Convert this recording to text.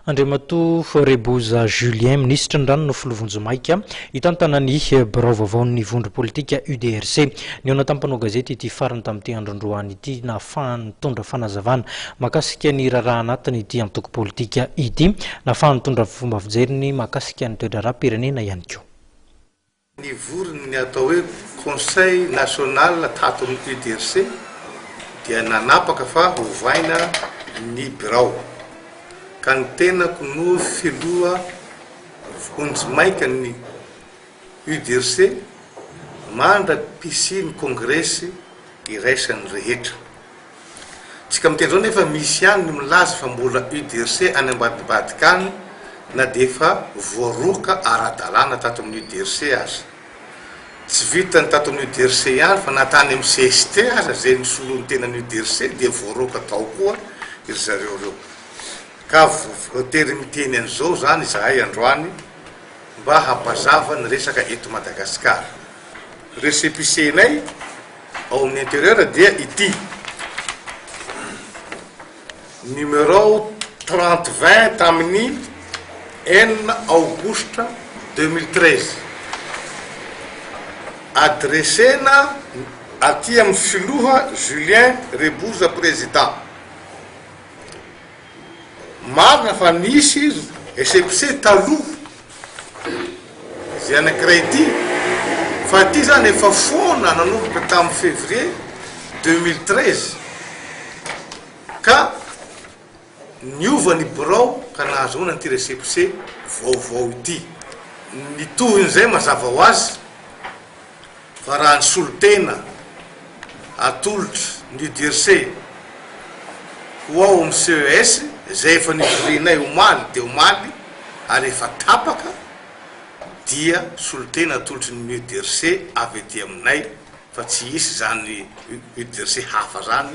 Andriamatoa Reboza Julien, minisitry ny Rano no filoha vonjimaika, hitantana ny birao vaovaon'ny vondro politika UDRC. Nihaona tamin'ny mpanao gazety ity farany tamin'ity andron-droany ity nahafahany nitondra fanazavana mahakasika ny raharaha anatiny ity antoko politika ity, nahafahany nitondra fomba fijeriny mahakasika ny toe-draharaham-pirenena ihany koa. Nivory ny atao hoe Conseil National tato amin'ny UDRC dia nanapaka fa hovaina ny birao ka ny tenako no filoha vonjimaika ny UDRC mandra-pisian'ny kongresy iraisan'ny rehetra. Isika miteny izao nefa misy ihany ny milaza fa mbola UDRC any ambadibadika any na dia efa voaroaka ara-dalàna tato amin'ny UDRC aza. Tsy vitan'ny tato amin'ny UDRC ihany fa na tany amin'ny cst aza izay nisolo ny tenan'ny UDRC dia voaroaka tao koa ry zareo ireo. Ka voatery miteny an'izao izany izahay androany mba hampazava ny resaka eto Madagasikara. Récépissé-nay Ao amin'ny intérieur dia ity numéro trente vingt tamin'ny enina aogositra deux mille treize adresena aty amin'ny filoha Julien Reboza président. Marina fa nisy récépissé taloha izay anankiray ity fa ity izany efa foana nanomboka tamin'ny février deux mille treize ka niova ny birao ka nahazoana an'ity récépissé vaovao ity. Ny tohin'izay mazava ho azy Fa raha ny solontena atolotra ny DIRC ho ao amin'ny CES izay efa nivorianay omaly dia omaly ary efa tapaka dia solontena atolotry ny UDIRC avy ety aminay fa tsy hisy izany UDIRC hafa izany